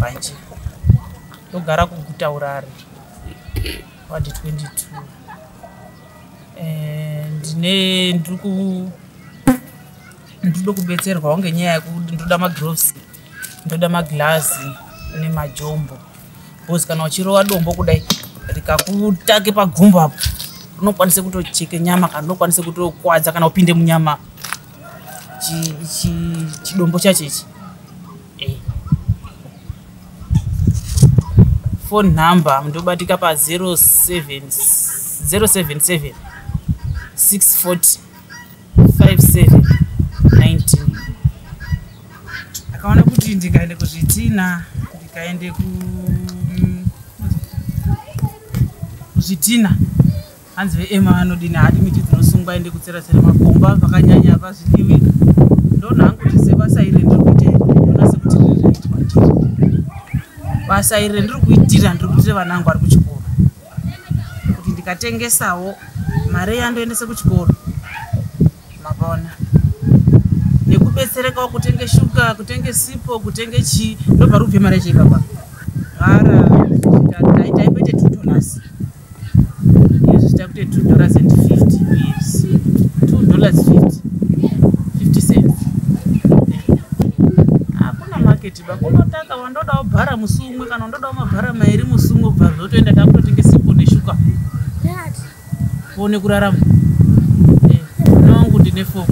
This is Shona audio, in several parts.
manje ndogara kuguta urare wadi 22 eh, ndine ndiri ku ndirido kubetserwawo ngenyaya yekuti ndinoda magloves ndoda maglazi nemajombo Boss kana uchirova dombo kudai rikakutake pagumbo apo unokwanisa kutocheke nyama kana unokwanisa kutokwadza kana upinde munyama chidombo chacho ichi eh. phone number mundobatika pa 07 077 640 5719 akaona kuti ndikaende kuzvitina ndikaende ku mm, kuzvitina hanzi veema vanodini hadi miti dzinosungwa ende kutsera tsera makomba vakanyanya vazvidiwi ndona hangu kuti sebasa iri ndiri kuita iri ndona sekuti riri rinoitwa basa iri ndiri kuitira ndiri kuitira vana vangu vari kuchikoro kuti ndikatengesawo mari yandoendese kuchikoro mavona nekubetserekawo kutenge shuga kutenge sipo kutenge chii ndobva rubve mari yacho ipapa mara taipete two dollars izvi takuite two dollars and fifty years two dollars fifty Unotaka wandodawo bhara musi umwe kana undodawo mabhara mairi musi umwe kubva zvotoenda takutotenge sipo neshuka one kurarama eh, mwana wangu ndine fom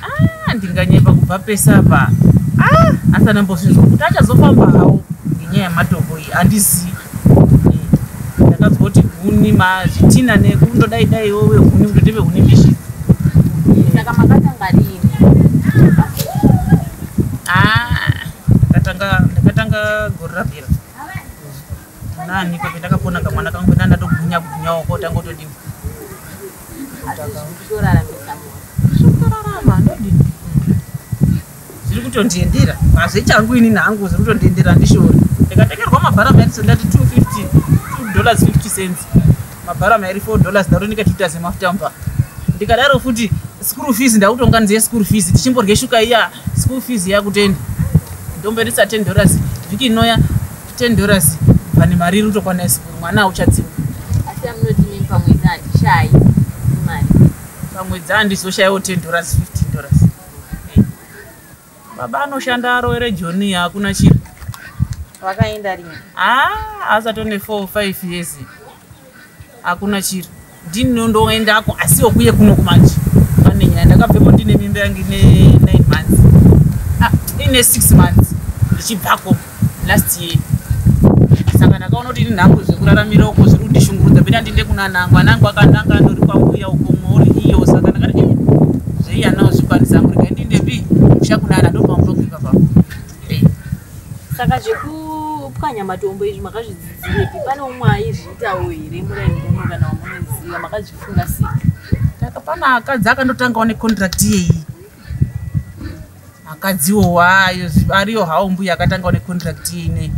ah, ndinganyepa kubva pese apa ah, asi anambozvinzwa kuti achazofamba hawo ngenyaya yematombo iyi handizii ndakazwa kuti huni mazvitina nekundodai dai wo vehuni kutoti vehuni mbishi saka makatanga rini ah, ndakatanga gore rabira nani pape ndakapona kamwana kangu pena ndatogwinya kugwinya wako tanga utodini zvotorarama ndodini zviri kutondiendera hazvichangu ini nangu zviri kutondiendera handishori ndikatengerwa mabhara mairi sendati 250 2 dollars 50 cents mabhara mairi 4 dollars ndatonika tuita zemafuta mba ndikadaro futi school fees ndakutonga ndiye school fees tichimborye shuka iya school fees yakutendi ndomberisa 10 dollars vhiki inoya 10 dollars vane mari rutokwana isikuru mwana auchadziwa asi amunoti mimi pamwedzi handishayi imari pamwedzi handizoshayiwo 10 dollars 15 dollars baba anoshanda aroere joni hakuna chiro vakaenda rini haa ah, asatone 4 5 years hakuna chiri ndinondoendako asi okuye kuno kumanje pane nyaya ndakabvepo ndine mimba yange ine nine months ah, ine six months ndichibvako last year saka ndakaona kuti ini nhangu zvekuraramira uko zviri kundishungurudza bena ndinde kuna nangu anangu akandanga andori kwambuya uko mori iyo saka ndakati eh, zveiya nawo zvikwanisa angu regai ndindepi musha kunana ndopambokipa papa saka zvekupwanya matombo izvi makazvidzidzirepi pane umwe aizviitawo here muraingono kana wamunoziva makazvifunga sei takapana akadzi akandotangawo necontract yeyi akadziwo wayo ariyo hawo mbuya akatangawo necontract yeine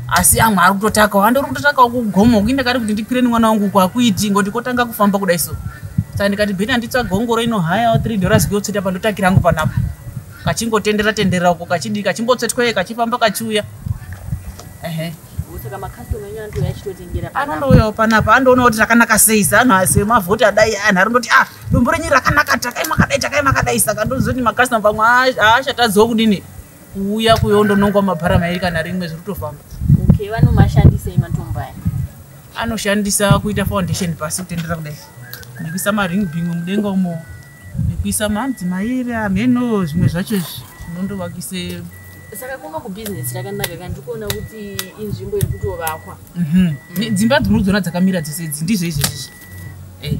asi amwe ari kutotakawo andori kutotakawo kugomo kuinda kari kuti ndikwire nemwana wangu kwakuiti ngoti kotanga kufamba kudai so saka ndikati bheni anditsvagongoro inohayawo three dollars kuyotseta pandotakira angu panapo kachingotendera tendera uko kachidii kachimbotsvetwee kachifamba kachiuya ehe anondouyawo panapa andoona kuti rakanaka sei seanhu asemavhoti adai anhu ari ndoti ah dumbu renyu rakanaka takai makadai takai makadai saka ndozoti makastoma pamwe aashatadzawo kudini kuuya kuyo ndonongwa mabhara mairi kana rimwe zviri kutofamba okay vanomashandisei matombo aya anoshandisa kuita foundation pasi kutendera kudai nekuisa maring bing mudenga umo nekuisa mamdzi mairi hameno zvimwe zvacho izvi zvinondovakise saka kuva kubusiness rakanaka kana ndikuona kuti inzvimbo iri kutovakwa mhm. dzimba dzinodzona dzakamira dzese idzi ndizvo izvezvizvi eh.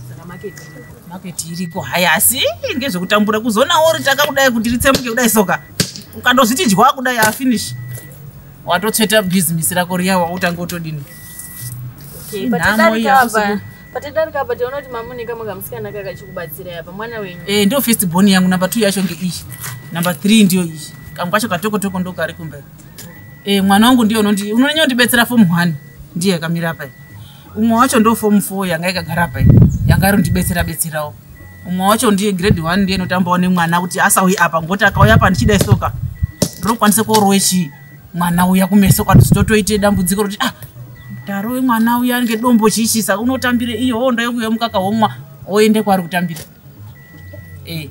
saka maketi maketi iriko hai asi ngezvekutambura kuzonawo ritaka kudai kuti ritsemuke kudai soka ukandozviti dya kudai afinish watotsveta bhizinesi rako riya wautanga utodini nhamo iya Patadarika apa taona kuti mamuneka makamusikana kakachikubatsira apa mwana wenyu. Eh ndo first born yangu number 2 yacho nge ishi. Number 3 ndiyo ishi. Kangu kacho katoko toko ndo kari kumberi. Eh mwana wangu ndiyo unondi unonyanya ndibetsera form 1 ndiye akamira apa. Umwe wacho ndo form 4 yanga ikagara apa. Yanga ari ndibetsera betserawo. Umwe wacho ndiye grade 1 ndiye notambawo ne mwana kuti asauyi apa ngoti akauya apa ndichida isoka. Ndinokwanisa kurowe chii? mwana uya kumeso kwati zvitotoite dambudziko rokuti ah daro wemwana uya ange dombo chichisa unotambire iyo hondo yokuya mukaka womwa oende kwaari kutambira e